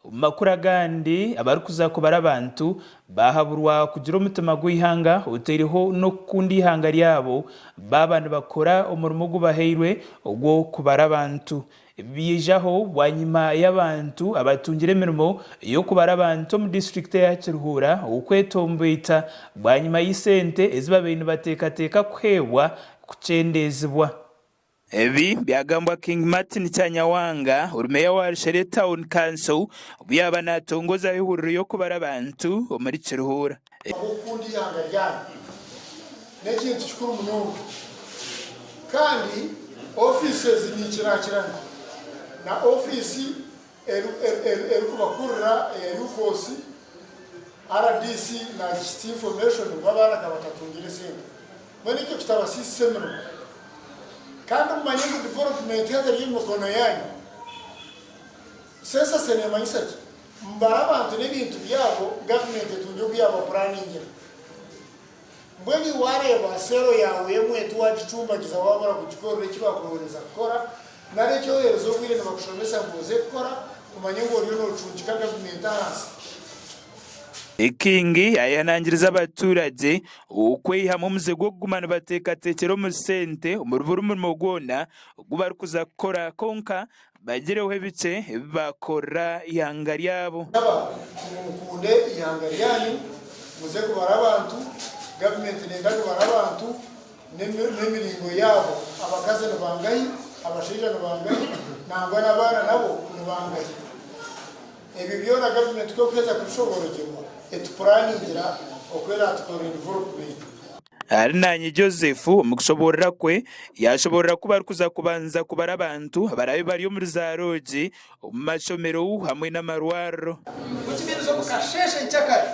Omu makuru agandi, abarikuza kubara abantu baahaburwa kugira omutima gw'eihanga otaireho n'okukunda eihanga ryabo baaba nibakora omurimo ogu bahairwe ogw'okubara abantu. Ebi byijaho bwanyima y'abantu abatungire emirimo y'okubara abantu omu disiturikiti eya Kiruhura okwetomboita bwanyima y'esente ezi babaire nibateekateeka kuheebwa kukyendeezibwa. Ebi byagambwa King Martin Kyanyawanga, ori meeya wa Rushere Town Council, obu yaaba naatongozaaho ehuriro y'okubara abantu omuri Kiruhura. Ahabw'okukunda eihanga ryanyu n'ekintu kikuru munonga, kandi ofiisi ezi ninkiraakirana na ofiisi erikubakurira eya UVOS, rdc naagishitia information ngu abaana ka batatungire sente. Mbwenu ekyo kitabasiisisa emirimo. Kandi mumanye ngu development haza eri omu mikono yaanyu. Census neemanyisa ki? Mubare abantu n'ebintu byabo gavumenti etungye oku yaabapuraningira. Mbwenu iwe waareeba seero yaawe y'omwetu waagicumbagiza waabura kugikorera eki baakuhoreza kukora, nari eki oheerize obwire nibakushomesa ngu oze kukora, kumanya ngu oriyo noocundika gavumenti ahansi. Ekingi ayehanangiriza abaturage okweihamu omuze gw'okuguma nibateekateekyera omu sente omuri buri murimo gwona ogu barikuza kukora kwonka Bagireho ebikye ebi baakorera eihanga ryabo. Naba ngu mukunde eihanga ryanyu, muze kubara abantu, gavumenti neenda kubara abantu n'emiringo yaabo, abakazi ni bangahi, abashaija ni bangahi nangwa n'abaana nabo ni bangahi. Ebyo byona gavumenti ku erikuheeza kubishoborogyerwa, etupuraningira oku eraatukorere developumenti. Arinanye Joseph omu kushoboorora kwe yaashoboorora ku barikuza kubanza kubara abantu abaraabe bari omu ruzaaro gye, omu mashomero hamwe n'amarwariro. Nikimanyisa omu kasheeshe nk'akari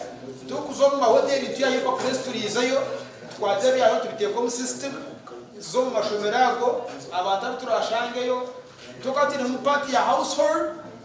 turikuza omu mahoteeri nitwihayo empapura ezituriizeyo, nitukwata ebyaro tubiteeka omu sisitimu, nituza omu mashomero ago abantu abu turaashangeyo, twokaba twinemu paati ya Household.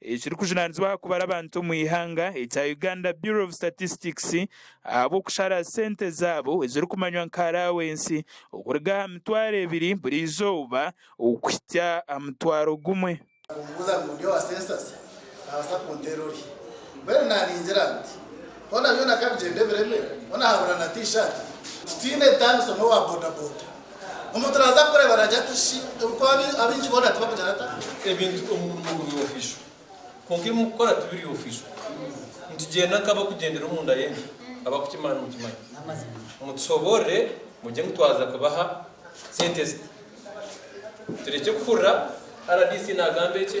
ekirikujunanizibwa aha kubara abantu omu ihanga ekya Uganda Bureau of Statistics ahabw'okushara sente zaabo ezirikumanywa nka Allowancy okuruga aha mitwaro ebiri buri izooba okuhitsya aha mutwaro gumwe. Okumbuuza ngu ndi owa Census naabaasa kunteera orye? Mbwenu naaningira nti, Hoona byona ka bigyende bireme, hoona haabura na T-shirt? Titwine ntaano somwo owa bodaboda Omuntu naaza kukureeba naagira ati, Shi, orikuba abaingi boona tibakugira ata? Ebintu omu murimo guri ofiisho, kwonka ebi mukukora tibiri ofiisho. Nitugyenda nk'abarikugyendera omunda y'enju, abarikukimanya nimukimanya. Mutushoboorore mugye ngu twaza kubaha sente ezi. Turekye kuhurira RDC naagamba eki.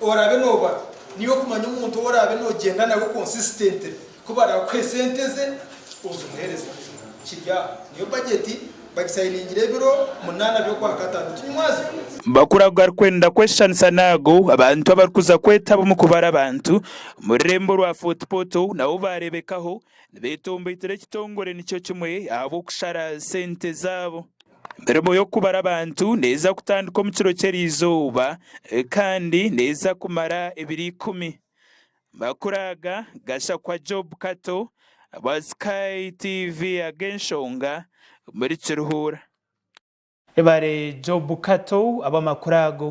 Oraabe nooba niiwe okumanya omuntu ou oraabe noogyenda nawe consistently, ku baraakuhe sente ze ozimuheereza. Kiri aho. Niyo bajeti bagisayiningira ebiro munaana by'Okwakataano. Tinyimwazirwe? Bakuraga arikwenda kweshushanisa n'ago abantu abarikuza kwetaba omu kubara abantu omu rurembo rwa Fort Portal nabo baareebekaho nibeetombeitera ekitongore nikyo kimwe ahabw'okushara sente zaabo. Emirimo y'okubara abantu neeza kutandika omu kiro ky'erizooba kandi neeza kumara ebiro ikumi. Amakuru aga Gashakwa Job Kato bwa Sky TV ag'enshonga omuri Kiruhura. Webare Job Kato abw'amakuru ago.